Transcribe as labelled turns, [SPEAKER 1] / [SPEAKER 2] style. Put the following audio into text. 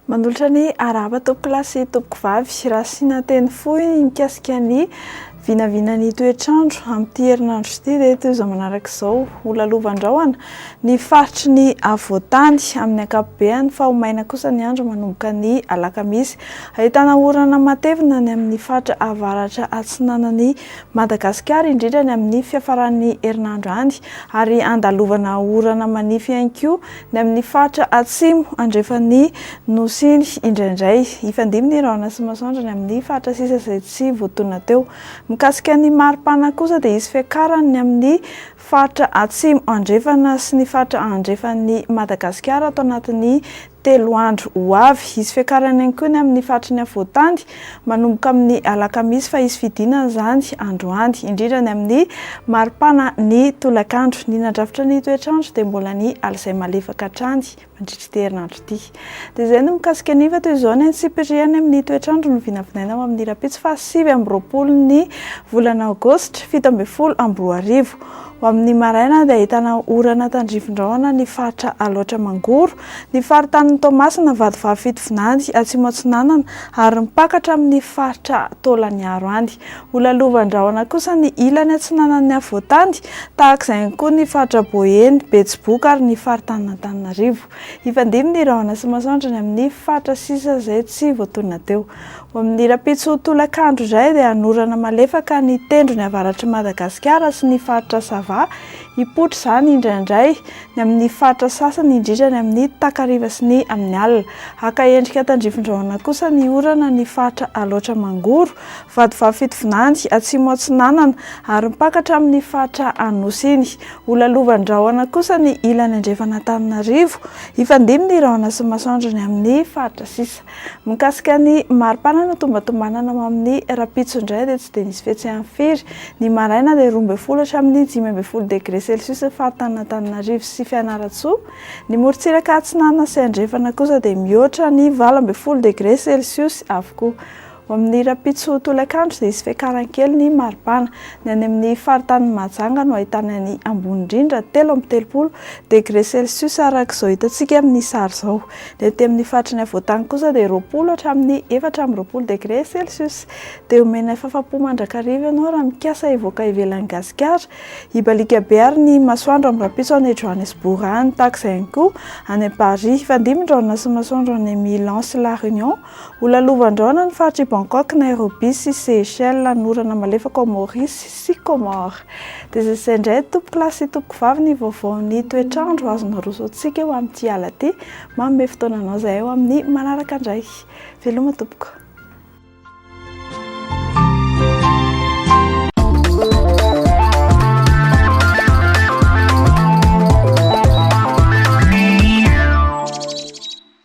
[SPEAKER 1] Manolotra ny arahaba tompoko lahy sy tompoko vavy Rasina teny fohy mikasika ny vinavinan'ny toetr'andro amin'ity herinandro ity dia toy izao manaraka izao ho lalovandrahona ny faritry ny avoantany amin'ny ankapobehany fa ho maina kosa ny andro manomboka ny alakamisy Ahitana orana matevina any amin'ny faritra avaratra atsinanan'i Madagasikara, indrindra any amin'ny fiafaran'ny herinandro any, ary andalovana orana manify ihany koa ny amin'ny faritra atsimo andrefan'ny Nosy iny indraindray. Hifandimby ny rahona sy masoandro any amin'ny faritra sisa izay tsy voatonona teo. Mikasika ny mari-pana kosa dia hisy fiakarany ny amin'ny faritra atsimo andrefana sy ny faritra andrefan'i Madagasikara ato anatin'ny Telo andro ho avy, hisy fiakarana ihany koa ny amin'ny faritry ny afovoan-tany, manomboka amin'ny alakamisy fa hisy fidinana izany androany, indrindra ny amin'ny maripana ny tolakandro. Ny nandrafitra ny toetr'andro dia mbola ny alizay malefaka hatrany mandritra ity herinandro ity. Dia izay no mikasika ny fa toy izao ny antsipiriany amin'ny toetr'andro no vinavinaina ho amin'ny rahampitso faha sivy amby roapolo ny volana aogositra fito ambin'ny folo amby roa arivo. Ho amin'ny maraina dia ahitana orana tandrifin-drahona ny faritra Alaotra Mangoro, ny faritanin'i Toamasina, Vatovavy Fitovinany, Atsimo Atsinanana ary mipaka hatramin'ny faritra Taolagnaro any. Ho lalovan-drahona kosa ny ilany atsinanan'ny afovoantany, tahaka izay ihany koa ny faritra Boeny, Betsiboka ary ny faritanin'Antananarivo. Hifandimby ny rahona sy masoandro ny amin'ny faritra sisa izay tsy voatonona teo. Ho amin'ny rahampitso tolakandro indray dia hanorana malefaka ny tendrony avaratr'i Madagasikara sy ny faritra Sava, hipoitra izany indraindray. ny amin' ny faritra sasany, indrindra ny amin' ny takariva sy ny amin' ny alina. Haka endrika tandrifindrahona kosa ny orana ny faritra Alaotra Mangoro, Vatovavy Fitovinany, Atsimo Atsinanana, ary mpaka hatramin' ny faritra Anosy iny. Holalovan-drahona kosa ny ilany andrefan' Antananarivo. Hifandimby ny rahona sy ny masoandro ny amin' ny faritra sisa. Mikasika ny maripana notombatombanana ho amin'ny rahampitso indray dia tsy dia nisy fihetsehany firy. Ny maraina dia roa ambin'ny folo hatramin'ny dimy ambin'ny folo degre celsius ny faritanin'Antananarivo sy Fianarantsoa. Ny morontsiraka atsinanana sy andrefana kosa dia mihoatra ny valo ambin'ny folo degre celsius avokoa. Ao amin'ny rahampitso tolakandro dia hisy fiakarany kely ny maripana. Ny any amin'ny faritanin'i Mahajanga no ahitana ny ambony indrindra, telo amby telopolo, degre celsius araka izao hitantsika amin'ny sary izao. Ny aty amin'ny faritry ny afovoan-tany kosa dia roapolo hatramin'ny efatra amby roapolo degre celsius. Dia omena fahafaham-po mandrakariva ianao raha mikasa hivoaka ivelan'i Gasikara. Hibaliaka be àry ny masoandro amin'ny rahampitso any Johannesburg any, tahaka izay ihany koa any Paris. Hifandimby ny rahona sy ny masoandro any Milan sy La Réunion Ho lalovan-drahona ny faritr' i Bangkok, Nairobi sy Seychelles, ny orana malefaka ao Maorisy sy Kômôro. Dia izay izay indray tompoko lahy sy tompoko vavy ny vaovaon'ny toetr'andro azon'ny Aroso antsika eo amin'ity ala ity. Manome fotoana anao izahay ho amin'ny manaraka indray. Veloma tompoko.